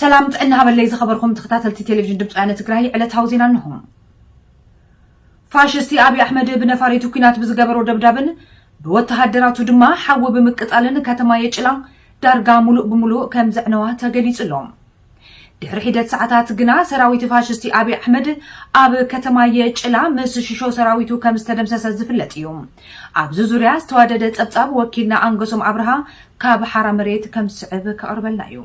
ሰላም ጥዕና ሃበለይ ዝኸበርኹም ተኸታተልቲ ቴሌቪዥን ድምፂ ወያነ ትግራይ ዕለታዊ ዜና እንሆ። ፋሽስቲ ኣብይ ኣሕመድ ብነፋሪቱ ኩናት ብዝገበሮ ደብዳብን ብወተሃደራቱ ድማ ሓዊ ብምቅፃልን ከተማ የጭላ ዳርጋ ሙሉእ ብሙሉእ ከም ዘዕነዋ ተገሊፁ ኣሎ። ድሕሪ ሒደት ሰዓታት ግና ሰራዊት ፋሽስቲ ኣብይ ኣሕመድ ኣብ ከተማ የጭላ ምስ ሽሾ ሰራዊቱ ከም ዝተደምሰሰ ዝፍለጥ እዩ። ኣብዚ ዙርያ ዝተዋደደ ፀብፃብ ወኪልና ኣንገሶም ኣብርሃ ካብ ሓራ መሬት ከም ዝስዕብ ከቕርበልና እዩ።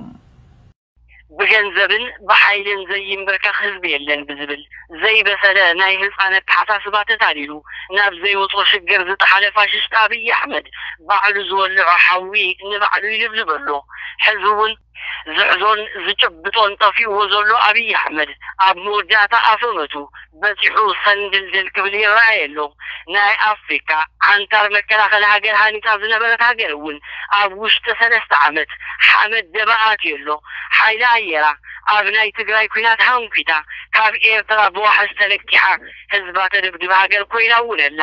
ብገንዘብን ብሓይልን ዘይምበርከኽ ህዝቢ የለን ብዝብል ዘይበሰለ ናይ ህፃን ኣተሓሳስባ ተታሊሉ ናብ ዘይውፆ ሽግር ዝጠሓለ ፋሽስት ኣብይ ኣሕመድ ባዕሉ ዝወለዖ ሓዊ ንባዕሉ ይልብልብ ኣሎ። ሕዚ እውን። ዝሕዞን ዝጭብጦን ጠፊኡዎ ዘሎ ኣብይ ኣሕመድ ኣብ መወዳእታ ኣፈመቱ በጺሑ ሰንድልድል ክብል ይረኣይ ኣሎ። ናይ ኣፍሪካ ዓንታር መከላኸሊ ሃገር ሃኒጻ ዝነበረት ሃገር እውን ኣብ ውሽጢ ሰለስተ ዓመት ሓመድ ደበ ኣትዩ ኣሎ። ሓይሊ ኣየራ ኣብ ናይ ትግራይ ኲናት ሃንኲታ ካብ ኤርትራ ብዋሕስ ተለቂሓ ህዝባ ተደብድብ ሃገር ኮይና እውን ኣላ።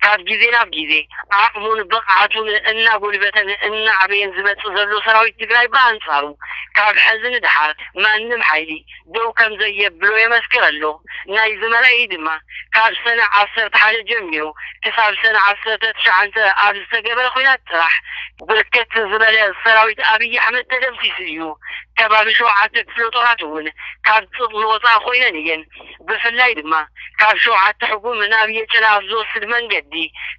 ካብ ግዜ ናብ ግዜ ዓቕሙን ብቕዓቱን እናጎልበተን እናዓበየን ዝመፅእ ዘሎ ሰራዊት ትግራይ ብኣንፃሩ ካብ ሐዚ ንደሓር ማንም ሓይሊ ደው ከምዘየብሎ የመስክር ኣሎ። ናይዚ መርኣዪ ድማ ካብ ሰነ ዓሰርተ ሓደ ጀሚሩ ክሳብ ሰነ ዓሰርተ ትሽዓተ ኣብ ዝተገበረ ኹናት ጥራሕ ብርክት ዝበለ ሰራዊት ኣብይ ኣሕመድ ተደምሲሱ እዩ። ከባቢ ሸውዓተ ክፍለጦራት እውን ካብ ፅቕሚ ወፃኢ ኾይነን እየን። ብፍላይ ድማ ካብ ሸውዓተ ሕጉም ናብ የጭለ ኣብ ዝወስድ መንገዲ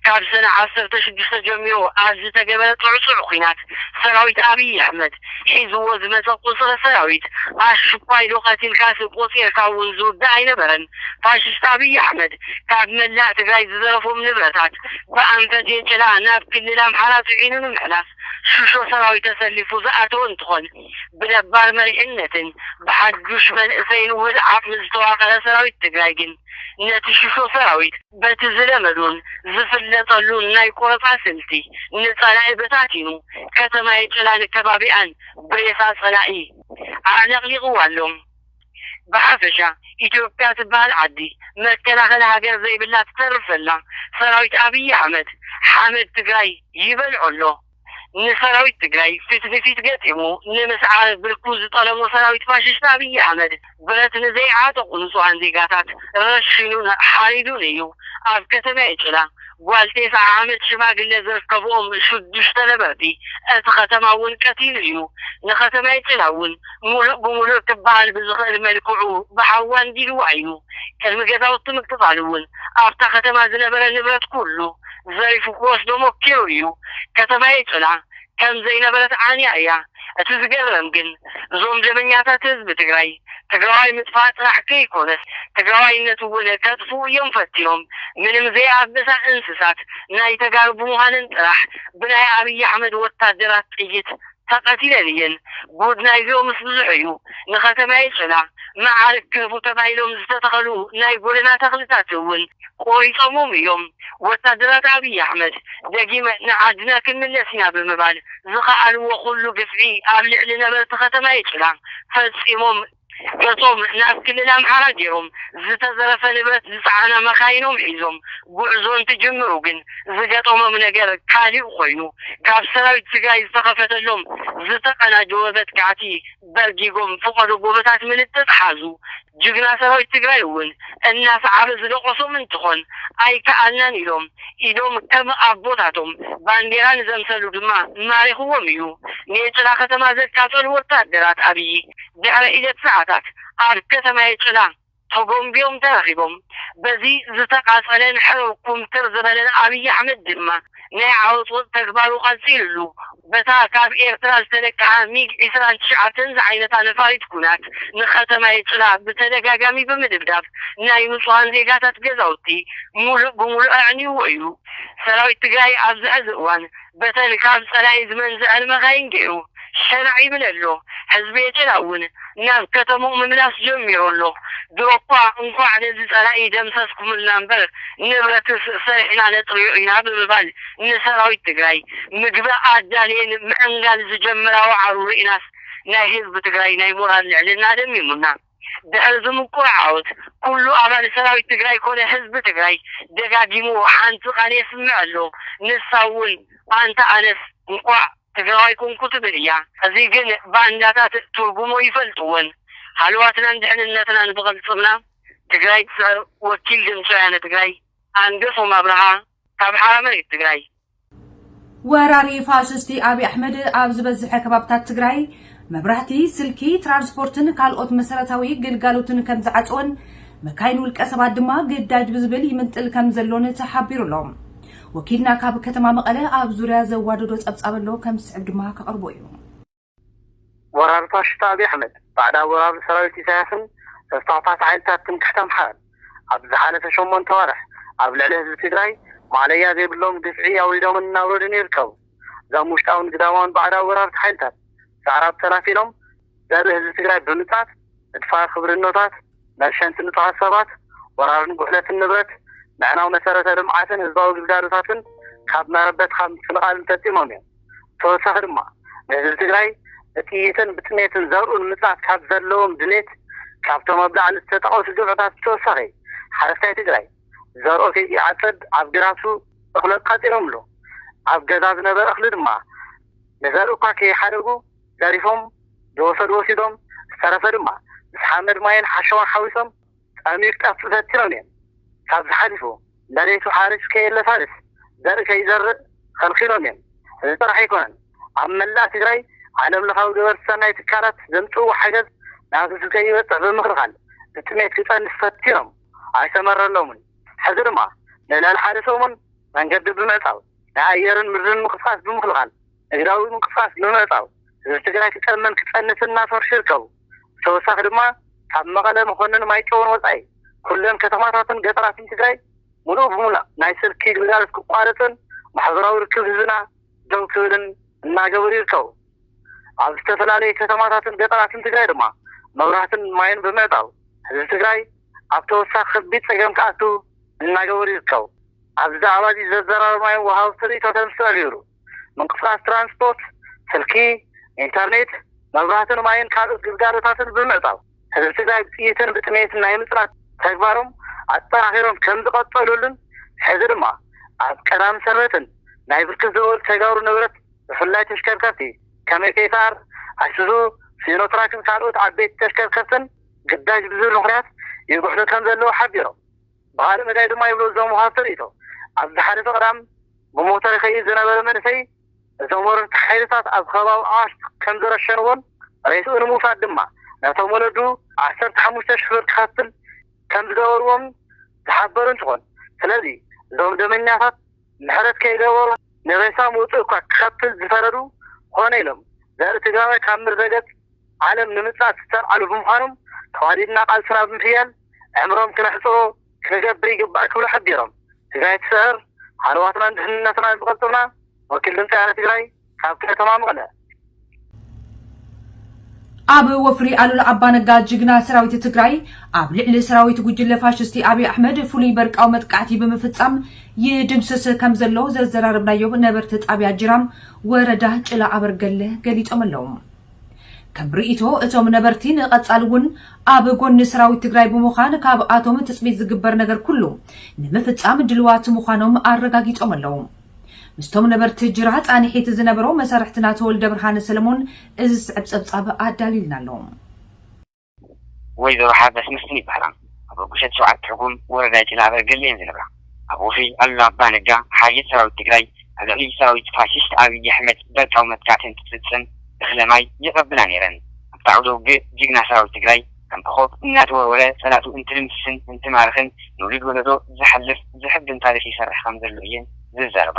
ካብ ሰነ ዓሰርተ ሽዱሽተ ጀሚሩ ኣብ ዝተገበረ ጥዕጹዕ ኲናት ሰራዊት ኣብይ ኣሕመድ ሒዝዎ ዝመጸ ቁጽሪ ሰራዊት ኣሽኳይዶ ቀቲልካሲ ቆጺርካ እውን ዝውዳእ ኣይነበረን ፋሽስት ኣብይ ኣሕመድ ካብ መላእ ትግራይ ዝዘረፎም ንብረታት ብኣንፈት የጭላ ናብ ክልል ኣምሓራ ጽዒኑ ንምሕላፍ ሽሾ ሰራዊት ተሰሊፉ ዝኣተወ እንትኾን ብነባር መሪሕነትን ብሓዱሽ መንእሰይን ውህድ ዓቕሚ ዝተዋቐረ ሰራዊት ትግራይ ግን ነቲ ሽሾ ሰራዊት በቲ ዝለመዶን ዝፍለጠሉን ናይ ቆረፃ ስልቲ ንፀላኢ በታቲኑ ከተማ የጨላን ከባቢኣን ብሬሳ ፀላኢ ኣዕለቕሊቕዋ ኣሎ። ብሓፈሻ ኢትዮጵያ ትበሃል ዓዲ መከላኸሊ ሃገር ዘይብላ ትተርፍ ዘላ ሰራዊት ኣብይ ኣሕመድ ሓመድ ትግራይ ይበልዖ ኣሎ። ንሰራዊት ትግራይ ፊት ንፊት ገጢሙ ንምስዓር ብርኩ ዝጠለሞ ሰራዊት ፋሽስት ኣብይ ኣሕመድ ብረት ንዘይዓጠቑ ንፁሃን ዜጋታት ረሺኑን ሓሪዱን እዩ። ኣብ ከተሜ ጭላ ጓል ቴስዓ ዓመት ሽማግሌ ዝርከብኦም ሽዱሽተ ነበርቲ እቲ ከተማ እውን ቀቲሉ እዩ። ንከተሜ ጭላ እውን ሙሉእ ብሙሉእ ክበሃል ብዝኽእል መልክዑ ብሓዊ ኣንዲድዋ እዩ። ቅድሚ ገዛውቲ ምቅፃሉ እውን ኣብታ ከተማ ዝነበረ ንብረት ኩሉ ዘሪፉ ክወስዶ ሞኪሩ እዩ ከተማየይ ጽና ከም ዘይነበረት ዓንያ እያ እቲ ዝገርም ግን እዞም ደመኛታት ህዝቢ ትግራይ ትግራዋይ ምጥፋእ ጥራሕ ከይኮነስ ትግራዋይነት እውን ከጥፍኡ እዮም ፈቲኖም ምንም ዘይኣበሳ እንስሳት ናይ ተጋሩ ብምዃንን ጥራሕ ብናይ ኣብይ ኣሕመድ ወታደራት ጥይት ተቀቲለን እየን ጉድ ናይዚኦምስ ብዙሕ እዩ ንከተማየ ጨና መዓርግ ክህቡ ተባሂሎም ዝተተኸሉ ናይ ጎደና ተኽልታት እውን ቆሪፆሞም እዮም ወታደራት ኣብይ ኣሕመድ ደጊመ ንዓድና ክንምለስ ኢና ብምባል ዝኸኣልዎ ኩሉ ግፍዒ ኣብ ልዕሊ ነበርቲ ከተማየ ጭና ፈፂሞም እቶም ናብ ክልል ኣምሓራ ገይሮም ዝተዘረፈ ንብረት ዝፀዓና መኻይኖም ሒዞም ጉዕዞ እንትጅምሩ ግን ዝገጠሞም ነገር ካሊእ ኾይኑ ካብ ሰራዊት ትግራይ ዝተኸፈተሎም ዝተቀናጀወ መጥቃዕቲ በርጊጎም ፍቀዶ ጎበታት ምልጥጥ ሓዙ ጅግና ሰራዊት ትግራይ እውን እናሰዓበ ዝደቆሶም እንትኾን ኣይከኣልናን ኢሎም ኢዶም ከም ኣቦታቶም ባንዴራ ንዘምሰሉ ድማ ማሪኽዎም እዩ ኔጭራ ከተማ ዘቃፀሉ ወታደራት ኣብይ ድሕሪ ሒደት ሰዓታት ኣብ ከተማ ኤጭላ ተጎምቢዮም ተረኺቦም። በዚ ዝተቓጸለን ሕርር ኩምትር ዝበለን ኣብይ ኣሕመድ ድማ ናይ ዓወጽወጽ ተግባሩ ቀጺሉሉ በታ ካብ ኤርትራ ዝተለቀሓ ሚግ ዕስራን ትሽዓተን ዝዓይነታ ነፋሪት ኩናት ንከተማ ኤጭላ ብተደጋጋሚ ብምድብዳብ ናይ ንጹሃን ዜጋታት ገዛውቲ ሙሉእ ብሙሉእ ኣዕንዩዎ እዩ። ሰራዊት ትግራይ ኣብዚ ሕዚ እዋን በተን ካብ ጸላኢ ዝመንዘዐን መካይን ጌሩ ሸናዕ ይብል ኣሎ። ህዝቢ ኤትራ እውን ናብ ከተምኡ ምምላስ ጀሚሩ ኣሎ። ድሮኳ እንኳዕ ነዚ ጸላኢ ደምሰስኩምልና እምበር ንብረትስ ሰሪሕና ነጥርዮ ኢና ብምባል ንሰራዊት ትግራይ ምግቢ ኣዳልየን ምዕንጋል ዝጀምራ ዋዕሮ ሪእናስ ናይ ህዝቢ ትግራይ ናይ ሞራል ልዕልና ደሚሙና ድሕሪ ዝምቁር ዓወት ኩሉ ኣባል ሰራዊት ትግራይ ኮነ ህዝቢ ትግራይ ደጋጊሙ ሓንቲ ቃል የስምዕ ኣሎ ንሳ እውን ኣንታ ኣነስ እንኳዕ ትግራዋይ ኮንኩ ትብል እያ። እዚ ግን ባንዳታት ትርጉሙ ኣይፈልጥዎን ሃለዋትናን ድሕንነትናን ብቅልፅምና ትግራይ ትስዕር ወኪል ድምፂ ወያነ ትግራይ ኣንገሶም ኣብርሃ። ካብ ሓራምረ እዩ ትግራይ። ወራሪ ፋሽስቲ ኣብይ ኣሕመድ ኣብ ዝበዝሐ ከባብታት ትግራይ መብራህቲ፣ ስልኪ፣ ትራንስፖርትን ካልኦት መሰረታዊ ግልጋሎትን ከም ዝዓፀወን መካይን ውልቀ ሰባት ድማ ግዳጅ ብዝብል ይምንጥል ከም ዘሎን ተሓቢሩ ኣሎ። ወኪልና ካብ ከተማ መቐለ ኣብ ዙርያ ዘዋደዶ ፀብፃብ ኣሎ ከም ዝስዕብ ድማ ከቕርቦ እዩ። ወራር ፋሽስት ኣብይ ኣሕመድ፣ ባዕዳዊ ወራሪ ሰራዊት ኢሳያስን ተስፋፍሓቲ ሓይልታት ትምክሕቲ ኣምሓራን፣ ኣብዚ ዝሓለፈ ሸሞንተ ኣዋርሕ ኣብ ልዕሊ ህዝቢ ትግራይ ማእለያ ዘይብሎም ግፍዒ ኣውሪዶምን እናውረዱን ይርከቡ። እዞም ውሽጣውን ግዳማውን ባዕዳዊ ወራርቲ ሓይልታት፣ ሰዕራብ ተላፊኖም ዘርኢ ህዝቢ ትግራይ ብምጽኣት፣ ምድፋር ክብርኖታት፣ መርሸንቲ ንጹሃት ሰባት፣ ወራርን ጉሕለትን ንብረት፣ ምዕናው መሰረተ ልምዓትን ህዝባዊ ግልጋሎታትን፣ ካብ መረበትካ ምፍንቓልን ፈጺሞም እዮም። ብተወሳኺ ድማ ንህዝቢ ትግራይ ብጥይትን ብጥሜትን ዘርኡ ንምፅናት ካብ ዘለዎም ድሌት ካብቶም ኣብ ላዕሊ ዝተጠቐሱ ግብዕታት ብተወሳኺ ሓረስታይ ትግራይ ዘርኡ ከይዓፀድ ኣብ ግራቱ እኽሊ ቛፂሮምሉ ኣብ ገዛ ዝነበረ እኽሊ ድማ ንዘርኢ እኳ ከይሓደጉ ዘሪፎም ዝወሰዱ ወሲዶም ዝተረፈ ድማ ምስ ሓመድ ማይን ሓሸዋን ሓዊሶም ጠሚርካ ትበትኖም እየን። ካብዚ ሓሊፉ መሬቱ ሓሪስ ከየለሳልስ ዘርኢ ከይዘርእ ኸልኪሎም እየን። እዚ ጥራሕ ኣይኮነን፣ ኣብ መላእ ትግራይ ዓለም ለኻዊ ገበርቲ ሰናይ ትካላት ዘምፅእዎ ሓገዝ ናብ ህዝቢ ከይበፅሕ ብምኽልኻል ብጥሜት ክፀንት ፈቲኖም ኣይሰመረሎምን። ሕዚ ድማ ንልዕሊ ሓደ ሰሙን መንገዲ ብምዕፃው፣ ናይ ኣየርን ምድርን ምንቅስቓስ ብምኽልኻል፣ ንግዳዊ ምንቅስቓስ ብምዕፃው ህዝቢ ትግራይ ክጠምን ክፀንትን እናሰርሑ ይርከቡ። ብተወሳኺ ድማ ካብ መቐለ፣ መኾነን፣ ማይጨውን ወፃኢ ኩለን ከተማታትን ገጠራትን ትግራይ ሙሉእ ብሙላእ ናይ ስልኪ ግልጋሎት ክቋረፅን ማሕበራዊ ርክብ ህዝብና ደው ክብልን እናገበሩ ይርከቡ። ኣብ ዝተፈላለዩ ከተማታትን ገጠራትን ትግራይ ድማ መብራህትን ማይን ብምዕፃው ህዝቢ ትግራይ ኣብ ተወሳኺ ከቢድ ፀገም ክኣቱ እናገበሩ ይርከቡ። ኣብዚ ዛዕባ እዚ ዘዘራረብናዮም ወሃብቲ ርኢቶተን ዝተቐየሩ። ምንቅስቓስ ትራንስፖርት፣ ስልኪ፣ ኢንተርኔት፣ መብራህትን ማይን ካልኦት ግልጋሎታትን ብምዕፃው ህዝቢ ትግራይ ብጥይትን ብጥሜትን ናይ ምፅናት ተግባሮም ኣጠናኺሮም ከምዝቐፀሉሉን ሕዚ ድማ ኣብ ቀዳምን ሰንበትን ናይ ብርክት ዝበሉ ተጋሩ ንብረት ብፍላይ ተሽከርከርቲ ከም ኤፌሳር፣ ኣይሱዙ፣ ሲኖትራክን ካልኦት ዓበይቲ ተሽከርከርትን ግዳጅ ብዝብል ምኽንያት ይጉሕሉ ከምዘለዉ ሓቢሮም። ብኻልእ መዳይ ድማ ይብሉ እዞም ወሃብቲ ርእይቶ፣ ኣብ ዝሓለፈ ቀዳም ብሞተር ይኸይድ ዝነበረ መንእሰይ እቶም ወረርቲ ሓይልታት ኣብ ከባቢ ኣዋሽ ከምዝረሸንዎን ሬስኡ ንምውሳድ ድማ ነቶም ወለዱ ዓሰርተ ሓሙሽተ ሽሕ ብር ክኸፍል ከምዝገበርዎምን ዝሓበሩ እንትኾን ስለዚ እዞም ደመኛታት ምሕረት ከይገበሩ ንሬሳ ምውፅእ እኳ ክኸፍል ዝፈረዱ ኮነ ኢሎም ዘርኢ ትግራዋይ ካብ ምርዘገፅ ዓለም ንምፅኣት ዝተልዓሉ ብምዃኖም ተዋዲድና ቃልስና ብምሕያል ዕምሮም ክነሕጽሮ ክንገብር ይግባእ ክብሉ ሓቢሮም። ትግራይ ትስዕር፣ ሃለዋትናን ድሕንነትናን ዝቐልጥፍና፣ ወኪል ድምጺ ኣረ ትግራይ ካብ ከተማ መቐለ። ኣብ ወፍሪ ኣሉላ ኣባነጋ ጅግና ሰራዊት ትግራይ ኣብ ልዕሊ ሰራዊት ጉጅለ ፋሽስቲ ኣብይ ኣሕመድ ፍሉይ በርቃዊ መጥቃዕቲ ብምፍጻም ይድምስስ ከም ዘሎ ዘዘራረብናዮም ነበርቲ ጣብያ ጅራም ወረዳ ጭላ ኣበርገለ ገሊጾም ኣለዉ። ከም ርኢቶ እቶም ነበርቲ ንቐፃሊ እውን ኣብ ጎኒ ሰራዊት ትግራይ ብምዃን ካብኣቶም ትፅቢት ዝግበር ነገር ኩሉ ንምፍፃም ድልዋት ምዃኖም ኣረጋጊፆም ኣለው። ምስቶም ነበርቲ ጅራ ፃንሒት ዝነበሮ መሰርሕትና ተወልደብርሃን ሰለሞን እዚ ዝስዕብ ፀብፃብ ኣዳሊልና ኣሎ። ወይዘሮ ሓርዳስ መስፍን ይበሃላ። ኣብ ኣቦሸት ሸውዓተ ትርጉም ወረዳ ይጭናበር ገለ እየን ዝነብራ። ኣብ ወፍሪ ኣሉላ ኣባነጋ ሓይልት ሰራዊት ትግራይ ኣብ ልዕሊ ሰራዊት ፋሽስት ኣብይ ኣሕመድ በርቃዊ መጥቃዕቲ እንትፍፅም እኽለ ማይ የቐብላ ነይረን። ኣብቲ ዓውደ ውግእ ጅግና ሰራዊት ትግራይ ከም ኮኾብ እናተወርወረ ፀላእቱ እንትድምስስን እንትማርኽን ንውሉድ ወለዶ ዝሓልፍ ዘሕብን ታሪኽ ይሰርሕ ከም ዘሎ እየን ዝዛረባ።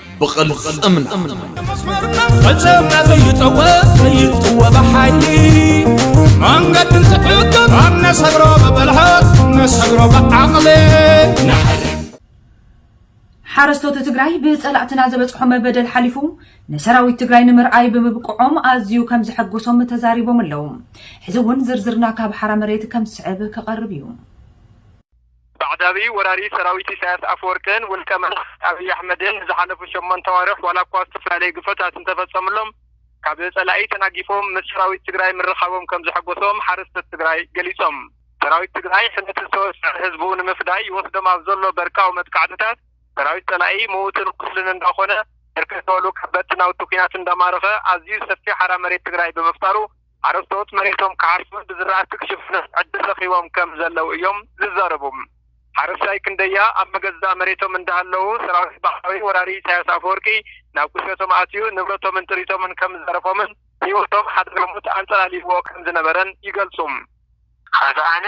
ብቕልጽምና ፈጸምና ዘይጠወ ዘይጥወ ብሓይሊ መንገዲ ትዕግብ ኣብ ነሰግሮ ብብልሃት ነሰግሮ ብዓቕሊ ሓረስቶት ትግራይ ብፀላእትና ዘበፅሖም በደል ሓሊፉ ንሰራዊት ትግራይ ንምርኣይ ብምብቅዖም ኣዝዩ ከም ዘሐጎሶም ተዛሪቦም ኣለዉ። ሕዚ እውን ዝርዝርና ካብ ሓራ መሬት ከም ዝስዕብ ክቐርብ እዩ። ባዕዳዊ ወራሪ ሰራዊት ኢሳያስ ኣፈወርቅን ውልቀ መላኺ ኣብይ ኣሕመድን ንዝሓለፉ ሸሞንተ ኣዋርሕ ዋላ እኳ ዝተፈላለዩ ግፍዕታት እንተፈፀምሎም ካብ ፀላኢ ተናጊፎም ምስ ሰራዊት ትግራይ ምርኻቦም ከምዘሐጎሶም ሓረስቶት ትግራይ ገሊፆም። ሰራዊት ትግራይ ሕምየትን ሰወስዐ ህዝቡ ንምፍዳይ ይወስዶም ኣብ ዘሎ በርቃዊ መጥቃዕትታት ሰራዊት ፀላኢ ምዉትን ቁስልን እንዳኾነ ብርክት ዝበሉ ከበድቲ ናውቲ ኲናት እንዳማረኸ ኣዝዩ ሰፊሕ ሓራ መሬት ትግራይ ብምፍጣሩ ሓረስቶት መሬቶም ክሓርሱን ብዝራእቲ ክሽፍኑን ዕድል ረኺቦም ከም ዘለዉ እዮም ዝዛረቡ። ሓረስታይ ክንደያ ኣብ መገዛእ መሬቶም እንዳሃለዉ ሰራዊት ባዕዳዊ ወራሪ ኢሳያስ ኣፈወርቂ ናብ ቁሸቶም ኣትዩ ንብረቶምን ጥሪቶምን ከም ዝዘረፎምን ህይወቶም ሓደጋ ሞት ኣንጸላልይዎ ከም ዝነበረን ይገልጹ። ኸዚ ኣነ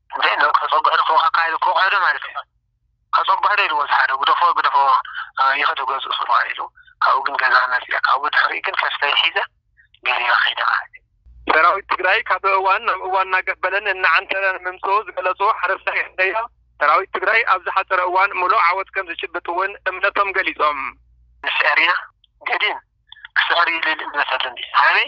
እንተ ኢሉ ከጸብሖ ድፎ ከካ ኢሉ ክወቕዖዶ ማለት እዩ ከጸብሖዶ ኢልዎ ዝሓደ ግደፎ ግደፎ ይኸዶ ገዝኡ ስርሖ ኢሉ ካብኡ ግን ገዛ መጺኣ ካብኡ ድሕሪኡ ግን ከፍተይ ሒዘ ገሊላ ከይደ ማለት እዩ። ሰራዊት ትግራይ ካብ እዋን ናብ እዋን እናገበለን እናዓንተረን ምምጽኡ ዝገለጹ ሓረስታይ ክንደያ፣ ሰራዊት ትግራይ ኣብ ዝሓጸረ እዋን ምሉእ ዓወት ከምዝጭብጥ እውን እምነቶም ገሊጾም። ንስዕር ኢና ገዲም ክስዕር ይብል እምነት ኣለኒ። ሃበይ?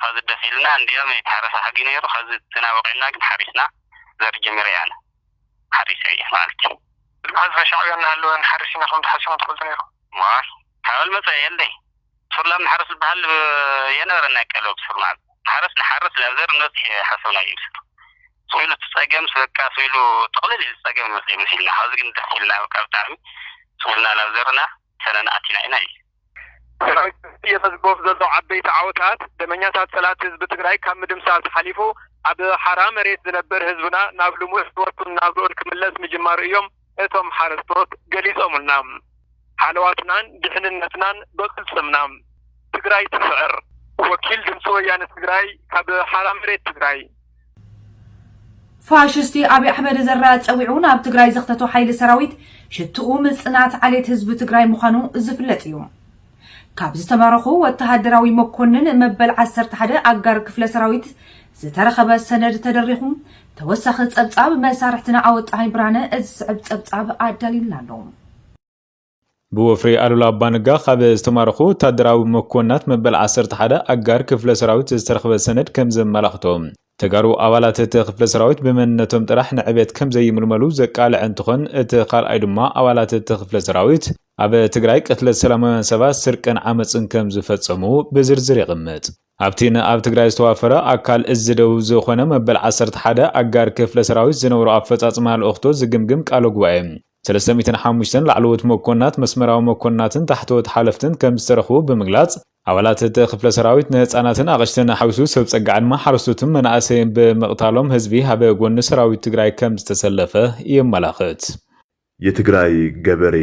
ሀዚ ደስ ኢልና እንድያም ኣይተሐረሰ ሐጊ ነይሩ ሀዚ ዝና በቂዕና ግን ሐሪስና ዘርኢ ጀሚረ እየ ኣነ ሐሪሰ እየ መኣልቲ ሀዝበ ሻዕብያ እናሀለወ ንሐርስ ኢና ክብል ዶ ሐሲብና ትፈልጡ ነይርኩም። ዋይ ካበል መፀ የለይ ሱር ላም ንሓርስ ዝበሃል የነበረን ናይ ቀደም ብ ሱር ላም ንሓረስ ንሓርስ ላብ ዘር ንበፅሕ ሓሰብና እዩ ሱር ስኢሉ እቲ ፀገም በቃ ስኢሉ ጥቕልል ኢሉ ፀገም ይመፅእ እዩ መሲልና ሀዚ ግን ደስ ኢልና በቃ ብጣዕሚ ስኢልና ላብ ዘርና ሰነና ኣቲና ኢና ኢሉ። ሰራዊት ህዝቢ የመዝግቦም ዘሎ ዓበይቲ ዓወታት ደመኛታት ፀላእቲ ህዝቢ ትግራይ ካብ ምድምሳስ ሓሊፉ ኣብ ሓራ መሬት ዝነብር ህዝብና ናብ ልሙዕ ህይወቱን ናብርኡን ክምለስ ምጅማሩ እዮም እቶም ሓረስቶት ገሊፆምልና። ሃለዋትናን ድሕንነትናን ብቕልፅምና! ትግራይ ትስዕር! ወኪል ድምፂ ወያነ ትግራይ ካብ ሓራ መሬት ትግራይ። ፋሽስቲ ኣብይ ኣሕመድ ዘራ ፀዊዑ ናብ ትግራይ ዘኽተቶ ሓይሊ ሰራዊት ሽትኡ ምፅናት ዓሌት ህዝቢ ትግራይ ምዃኑ ዝፍለጥ እዩ። ካብ ዝተማረኹ ወተሃደራዊ መኮንን መበል ዓሰርተ ሓደ ኣጋር ክፍለ ሰራዊት ዝተረኸበ ሰነድ ተደሪኹ ተወሳኺ ፀብፃብ መሳርሕትና ኣወጣሃኝ ብርሃነ እዚ ዝስዕብ ፀብፃብ ኣዳልዩልና ኣሎ። ብወፍሪ ኣሉላ ኣባነጋ ካብ ዝተማረኹ ወታደራዊ መኮንናት መበል ዓሰርተ ሓደ ኣጋር ክፍለ ሰራዊት ዝተረኽበ ሰነድ ከም ዘመላኽቶ፣ ተጋሩ ኣባላት እቲ ክፍለ ሰራዊት ብመንነቶም ጥራሕ ንዕቤት ከም ዘይምልመሉ ዘቃልዐ እንትኾን፣ እቲ ካልኣይ ድማ ኣባላት እቲ ክፍለ ሰራዊት ኣብ ትግራይ ቅትለት ሰላማውያን ሰባት፣ ስርቅን ዓመፅን ከም ዝፈፀሙ ብዝርዝር የቕምጥ። ኣብቲ ንኣብ ትግራይ ዝተዋፈረ ኣካል እዝ ደቡብ ዝኾነ መበል ዓሰርተ ሓደ ኣጋር ክፍለ ሰራዊት ዝነብሮ ኣፈፃፅማ ልኡኽቶ ዝግምግም ቃለ ጉባኤ፣ ሰለስተ ሚእትን ሓሙሽተን ላዕለዎት መኮንናት፣ መስመራዊ መኮንናትን ታሕተዎት ሓለፍትን ከምዝተረኽቡ ብምግላፅ፣ ኣባላት እቲ ክፍለ ሰራዊት ንህፃናትን ኣቕሽትን ሓዊሱ ሰብ ፀጋ ዕድመ ሓረስቶትን መናእሰይን ብምቕታሎም ህዝቢ ኣብ ጎኒ ሰራዊት ትግራይ ከምዝተሰለፈ የመላኽት። የትግራይ ገበሬ፣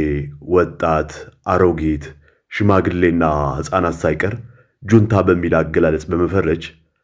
ወጣት፣ ኣሮጊት፣ ሽማግሌና ህፃናት ሳይቀር ጁንታ በሚል ኣገላለፅ በመፈረጅ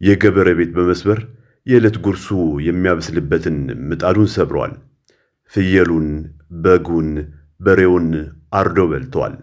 የገበረ ቤት በመስበር የእለት ጉርሱ የሚያበስልበትን ምጣዱን ሰብረዋል። ፍየሉን፣ በጉን፣ በሬውን ኣርዶ በልተዋል።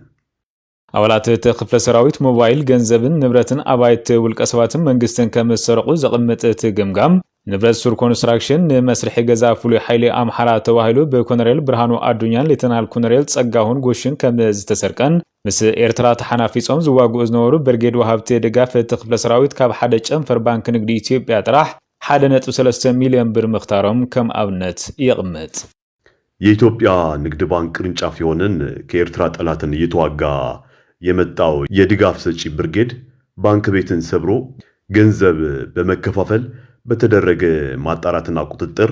ኣባላት እቲ ክፍለ ሰራዊት ሞባይል፣ ገንዘብን ንብረትን ኣባይቲ ውልቀሰባትን መንግስትን ከምዝሰረቑ ዘቕምጥ እቲ ገምጋም፣ ንብረት ሱር ኮንስትራክሽን፣ ንመስርሒ ገዛ ፍሉይ ሓይሊ ኣምሓራ ተባሂሉ ብኮነሬል ብርሃኑ ኣዱኛን ሌተናል ኮነሬል ፀጋሁን ጎሽን ከምዝተሰርቀን ምስ ኤርትራ ተሓናፊጾም ዝዋግኡ ዝነበሩ ብርጌድ ወሃብቲ ድጋፍ እቲ ክፍለ ሰራዊት ካብ ሓደ ጨንፈር ባንኪ ንግዲ ኢትዮጵያ ጥራሕ ሓደ ነጥቢ ሰለስተ ሚልዮን ብር ምኽታሮም ከም ኣብነት የቕምጥ። የኢትዮጵያ ንግድ ባንክ ቅርንጫፍ የሆነን ከኤርትራ ጠላትን እየተዋጋ የመጣው የድጋፍ ሰጪ ብርጌድ ባንክ ቤትን ሰብሮ ገንዘብ በመከፋፈል በተደረገ ማጣራትና ቁጥጥር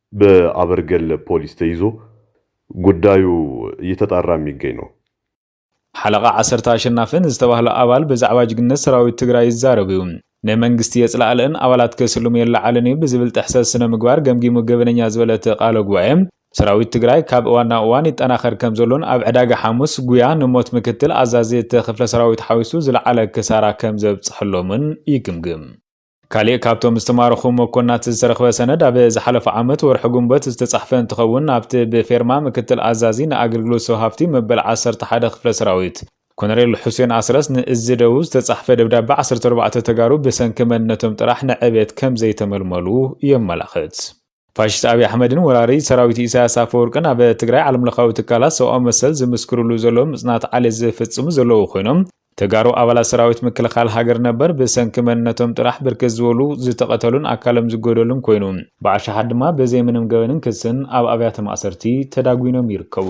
በኣበርገለ ፖሊስ ተይዞ ጉዳዩ እየተጣራ ሚገኝ ነው። ሓለቓ ዓሰርተ ኣሸናፊ ንዝተባህለ ኣባል ብዛዕባ ጅግንነት ሰራዊት ትግራይ ይዛረብ እዩ። ንመንግስቲ የፅላእልእን ኣባላት ከስልሙ የለዓዕልን እዩ ብዝብል ጥሕሰት ስነ-ምግባር ገምጊሙ ገበነኛ ዝበለ እቲ ቃለ ጉባኤ፣ ሰራዊት ትግራይ ካብ እዋን ናብ እዋን ይጠናኸር ከምዘሎን ኣብ ዕዳጋ ሓሙስ ጉያ ንሞት ምክትል ኣዛዚ እቲ ክፍለ ሰራዊት ሓዊሱ ዝለዓለ ክሳራ ከምዘብፀሐሎምን ይግምግም። ካሊእ ካብቶም ዝተማረኹ መኮንናት ዝተረኽበ ሰነድ ኣብ ዝሓለፈ ዓመት ወርሒ ግንቦት ዝተፃሕፈ እንትኸውን ኣብቲ ብፌርማ ምክትል ኣዛዚ ንኣገልግሎት ሰብ ሃፍቲ መበል ዓሰርተ ሓደ ክፍለ ሰራዊት ኮነሬል ሑሴን ኣስረስ ንእዝ ደቡብ ዝተፃሕፈ ደብዳበ ዓሰርተ ኣርባዕተ ተጋሩ ብሰንኪ መንነቶም ጥራሕ ንዕብየት ከምዘይተመልመሉ የመላኽት። ፋሽስት ኣብይ ኣሕመድን ወራሪ ሰራዊት ኢሳያስ ኣፈወርቅን ኣብ ትግራይ ዓለም ለኻዊ ትካላት ሰብኣዊ መሰል ዝምስክርሉ ዘለዉ ምፅናት ዓሌት ዝፍፅሙ ዘለዉ ኮይኖም ተጋሩ ኣባላት ሰራዊት ምክልኻል ሃገር ነበር ብሰንኪ መንነቶም ጥራሕ ብርክት ዝበሉ ዝተቐተሉን ኣካሎም ዝጎደሉን ኮይኑ ብኣሻሓት ድማ ብዘይ ምንም ገበንን ክስን ኣብ ኣብያተ ማእሰርቲ ተዳጒኖም ይርከቡ።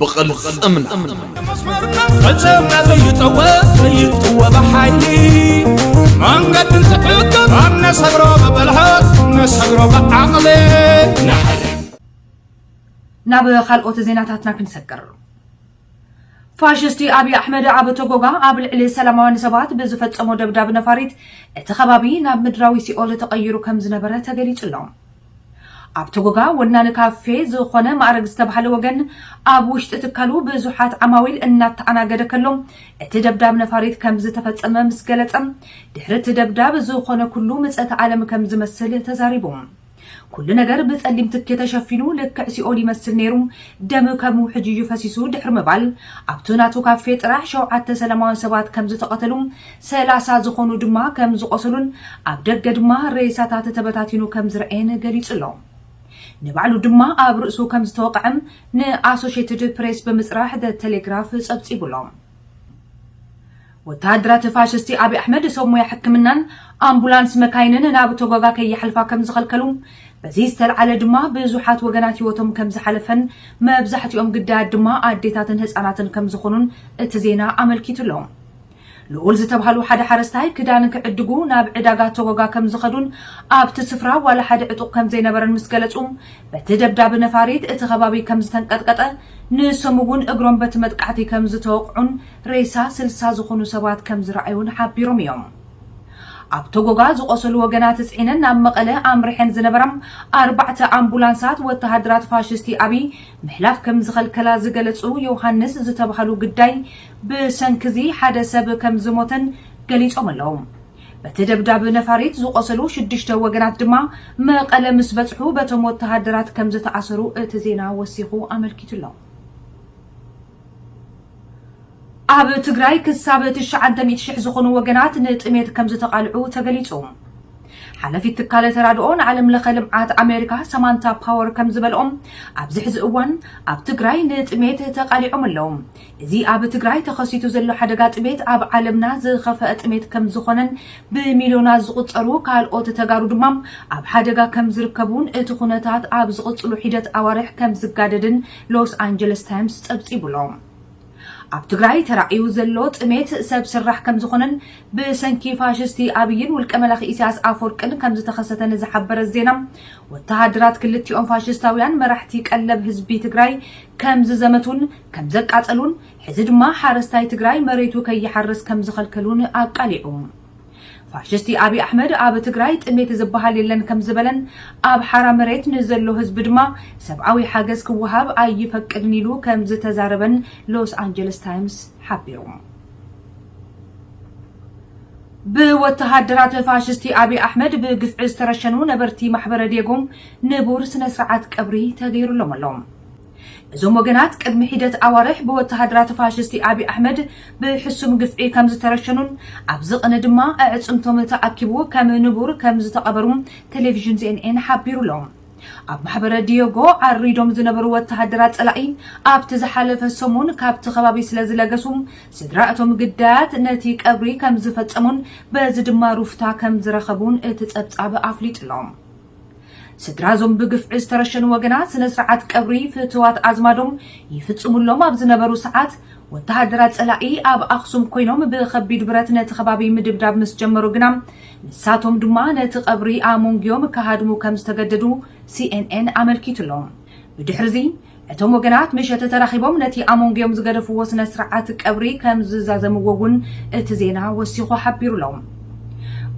ብቕልፅምና ፈፀምና ዘይጠወ ዘይጥወ ብሓይሊ መንገዲ ዝሕግር ኣብ ነሰግሮ ብብልሃት ነሰግሮ ብዓቕሊ ናብ ካልኦት ዜናታትና ክንሰግር ፋሽስቲ ኣብዪ ኣሕመድ ኣብ ቶጎጋ ኣብ ልዕሊ ሰላማውያን ሰባት ብዝፈፀሞ ደብዳብ ነፋሪት እቲ ከባቢ ናብ ምድራዊ ሲኦል ተቐይሩ ከም ዝነበረ ተገሊጹ ኣሎ ኣብ ቶጎጋ ወናኒ ካፌ ዝኾነ ማእረግ ዝተብሃለ ወገን ኣብ ውሽጢ ትካሉ ብዙሓት ዓማዊል እናተኣናገደ ከሎ እቲ ደብዳብ ነፋሪት ከምዝተፈፀመ ምስ ገለፀ ድሕሪ እቲ ደብዳብ ዝኾነ ኩሉ ምፀተ ኣለም ከምዝመስል ተዛሪቡ። ኩሉ ነገር ብፀሊም ትኪ ተሸፊኑ ልክዕ ሲኦል ይመስል ነይሩ ደም ከም ውሕጅ እዩ ፈሲሱ ድሕሪ ምባል ኣብቱ ናቱ ካፌ ጥራሕ ሸውዓተ ሰላማውያን ሰባት ከምዝተቐተሉ ሰላሳ ዝኾኑ ድማ ከም ዝቖሰሉን ኣብ ደገ ድማ ሬሳታት ተበታቲኑ ከም ዝረኣየን ገሊጹ'ሎ። ንባዕሉ ድማ ኣብ ርእሱ ከም ዝተወቕዐ ንኣሶሼትድ ፕሬስ ብምጽራሕ The Telegraph ጸብጺቡ'ሎ። ወተሃደራት ፋሽስቲ ኣብይ ኣሕመድ ሰብ ሞያ ሕክምናን ኣምቡላንስ መካይንን ናብ ቶጎጋ ከይሓልፋ ከም ዝኸልከሉ፣ በዚ ዝተልዓለ ድማ ብዙሓት ወገናት ህይወቶም ከም ዝሓለፈን መብዛሕትኦም ግዳያት ድማ ኣዴታትን ህጻናትን ከም ዝኾኑን እቲ ዜና ኣመልኪቱ'ሎ። ልኡል ዝተብሃሉ ሓደ ሓረስታይ ክዳን ክዕድጉ ናብ ዕዳጋ ቶጎጋ ከም ዝኸዱን ኣብቲ ስፍራ ዋላ ሓደ ዕጡቕ ከም ዘይነበረን ምስ ገለጹ፣ በቲ ደብዳብ ነፋሪት እቲ ከባቢ ከም ዝተንቀጥቀጠ፣ ንሶም እውን እግሮም በቲ መጥቃዕቲ ከም ዝተወቕዑን ሬሳ ስልሳ ዝኹኑ ሰባት ከም ዝረኣዩን ሓቢሮም እዮም። ኣብ ቶጎጋ ዝቖሰሉ ወገናት ጽዒነን ናብ መቐለ ኣምሪሐን ዝነበራ ኣርባዕተ ኣምቡላንሳት ወተሃደራት ፋሽስቲ ኣብይ ምሕላፍ ከም ዝኸልከላ ዝገለጹ ዮውሃንስ ዝተብሃሉ ግዳይ፣ ብሰንኪ'ዚ ሓደ ሰብ ከም ዝሞተን ገሊጾም ኣለዉ። በቲ ደብዳብ ነፋሪት ዝቖሰሉ ሽዱሽተ ወገናት ድማ መቐለ ምስ በጽሑ በቶም ወተሃደራት ከም ዝተኣሰሩ እቲ ዜና ወሲኹ ኣመልኪቱ ኣሎ። ኣብ ትግራይ ክሳብ ትሽዓንተ ሚእቲ ሽሕ ዝኾኑ ወገናት ንጥሜት ከም ዝተቓልዑ ተገሊጹ። ሓላፊት ትካለ ተራድኦ ንዓለም ለኸ ልምዓት ኣሜሪካ ሰማንታ ፓወር ከም ዝበልኦም ኣብዚ ሕዚ እዋን ኣብ ትግራይ ንጥሜት ተቓሊዖም ኣለዉ። እዚ ኣብ ትግራይ ተኸሲቱ ዘሎ ሓደጋ ጥሜት ኣብ ዓለምና ዝኸፈኣ ጥሜት ከምዝኾነን ብሚልዮናት ዝቑፀሩ ካልኦት ተጋሩ ድማ ኣብ ሓደጋ ከምዝርከቡን እቲ ኩነታት ኣብ ዝቕፅሉ ሒደት ኣዋርሕ ከምዝጋደድን ሎስ ኣንጀለስ ታይምስ ፀብፂቡ ኣሎ። ኣብ ትግራይ ተራእዩ ዘሎ ጥሜት ሰብ ስራሕ ከምዝኾነን ብሰንኪ ፋሽስቲ ኣብይን ውልቀ መላኺ ኢሳያስ ኣፈወርቅን ከምዝተኸሰተን ዝሓበረ ዜና ወተሃደራት ክልቲኦም ፋሽስታውያን መራሕቲ ቀለብ ህዝቢ ትግራይ ከምዝዘመቱን ከምዘቃፀሉን ሕዚ ድማ ሓረስታይ ትግራይ መሬቱ ከይሓርስ ከምዝኸልከሉን ኣቃሊዑ። ፋሽስቲ ኣብይ ኣሕመድ ኣብ ትግራይ ጥሜት ዝበሃል የለን ከምዝበለን ኣብ ሓራ መሬት ንዘሎ ህዝቢ ድማ ሰብኣዊ ሓገዝ ክወሃብ ኣይፈቅድን ኢሉ ከምዝተዛረበን ሎስ ኣንጀለስ ታይምስ ሓቢሩ። ብወተሃደራት ፋሽስቲ ኣብይ ኣሕመድ ብግፍዒ ዝተረሸኑ ነበርቲ ማሕበረ ዴጎ ንቡር ስነ ስርዓት ቀብሪ ተገይሩሎም ኣሎ። እዞም ወገናት ቅድሚ ሒደት ኣዋርሕ ብወተሃደራት ፋሽስቲ ኣብይ ኣሕመድ ብሕሱም ግፍዒ ከም ዝተረሸኑን ኣብዚ ቅነ ድማ ኣዕጽምቶም ተኣኪቡ ከም ንቡር ከም ዝተቐበሩ ቴሌቪዥን ዜንኤን ሓቢሩ ኣሎ። ኣብ ማሕበረ ዲዮጎ ዓሪዶም ዝነበሩ ወተሃደራት ጸላኢ ኣብቲ ዝሓለፈ ሰሙን ካብቲ ከባቢ ስለ ዝለገሱ ስድራ እቶም ግዳያት ነቲ ቀብሪ ከም ዝፈጸሙን በዚ ድማ ሩፍታ ከም ዝረኸቡን እቲ ጸብጻብ ኣፍሊጡ ኣሎ። ስድራ እዞም ብግፍዒ ዝተረሸኑ ወገናት ስነ ስርዓት ቀብሪ ፍትዋት ኣዝማዶም ይፍፅሙሎም ኣብ ዝነበሩ ሰዓት ወተሃደራት ፀላኢ ኣብ ኣኽሱም ኮይኖም ብኸቢድ ብረት ነቲ ከባቢ ምድብዳብ ምስ ጀመሩ ግና ንሳቶም ድማ ነቲ ቀብሪ ኣሞንግዮም ክሃድሙ ከም ዝተገደዱ ሲኤንኤን ኣመልኪቱ ኣሎ። ብድሕሪ እዚ እቶም ወገናት ምሸት ተራኺቦም ነቲ ኣሞንጎኦም ዝገደፍዎ ስነ ስርዓት ቀብሪ ከም ዝዛዘምዎ እውን እቲ ዜና ወሲኹ ሓቢሩ'ሎ።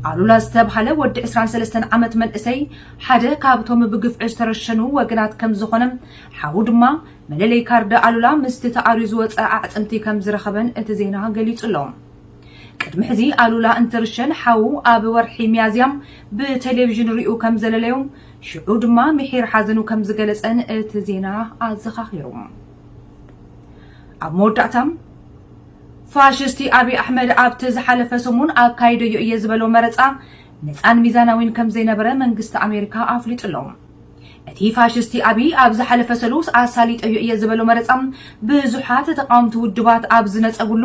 ኣሉላ ዝተብሃለ ወዲ ዕስራን ሰለስተን ዓመት መንእሰይ ሓደ ካብቶም ብግፍዒ ዝተረሸኑ ወገናት ከም ዝኾነ ሓዉ ድማ መለለይ ካርድ ኣሉላ ምስቲ ተኣርዩ ዝወጸ ኣዕጽምቲ ከም ዝረኸበን እቲ ዜና ገሊጹ'ሎ። ቅድሚ ሕዚ ኣሉላ እንትርሸን ሓዉ ኣብ ወርሒ ሚያዝያ ብቴሌቪዥን ሪኡ ከም ዘለለዮ ሽዑ ድማ ምሒር ሓዘኑ ከም ዝገለጸን እቲ ዜና ኣዘኻኺሩ። ኣብ መወዳእታ፣ ፋሽስቲ ኣብይ ኣሕመድ ኣብቲ ዝሓለፈ ሰሙን ኣካይደዮ እየ ዝበሎ መረጻ ነጻን ሚዛናዊን ከም ዘይነበረ መንግስቲ ኣሜሪካ ኣፍሊጡ ኣሎ። እቲ ፋሽስቲ ኣብይ ኣብ ዝሓለፈ ሰሉስ ኣሳሊጠዮ እየ ዝበሎ መረጻ ብዙሓት ተቓወምቲ ውድባት ኣብ ዝነጸጉሉ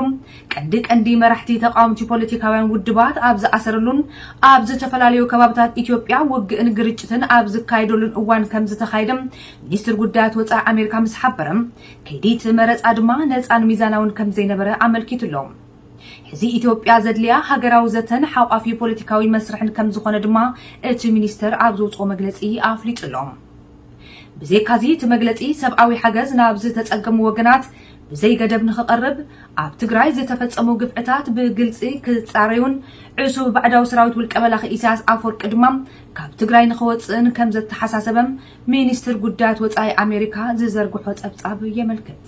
ቀንዲ ቀንዲ መራሕቲ ተቓወምቲ ፖለቲካውያን ውድባት ኣብ ዝኣሰረሉን ኣብ ዝተፈላለዩ ከባብታት ኢትዮጵያ ውግእን ግርጭትን ኣብ ዝካየደሉን እዋን ከምዝተኻየደ ሚኒስትር ጉዳያት ወፃኢ ኣሜሪካ ምስ ሓበረ ከይዲ እቲ መረፃ ድማ ነፃን ሚዛናውን ከምዘይነበረ ኣመልኪቱ ኣሎ። ሕዚ ኢትዮጵያ ዘድልያ ሃገራዊ ዘተን ሓቋፊ ፖለቲካዊ መስርሕን ከምዝኾነ ድማ እቲ ሚኒስተር ኣብ ዘውፅኦ መግለፂ ኣፍሊጡ ኣሎ። ብዘይካዚ እቲ መግለፂ ሰብኣዊ ሓገዝ ናብ ዝተፀገሙ ወገናት ብዘይ ገደብ ንክቐርብ፣ ኣብ ትግራይ ዝተፈጸሙ ግፍዕታት ብግልጺ ክጻረዩን ዕሱብ ባዕዳዊ ሰራዊት ውልቀ መላኺ ኢሳያስ ኣፍወርቂ ድማ ካብ ትግራይ ንክወጽእን ከም ዘተሓሳሰበ ሚኒስትር ጉዳያት ወጻኢ ኣሜሪካ ዝዘርግሖ ጸብጻብ የመልክት።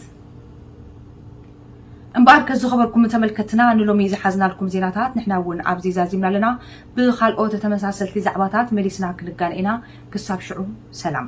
እምበኣርከስ ዝኸበርኩም ተመልከትና ንሎሚ ዝሓዝናልኩም ዜናታት ንሕና እውን ኣብዚ ዛዚምና ኣለና። ብኻልኦት ተመሳሰልቲ ዛዕባታት መሊስና ክንጋነ ኢና። ክሳብ ሽዑ ሰላም።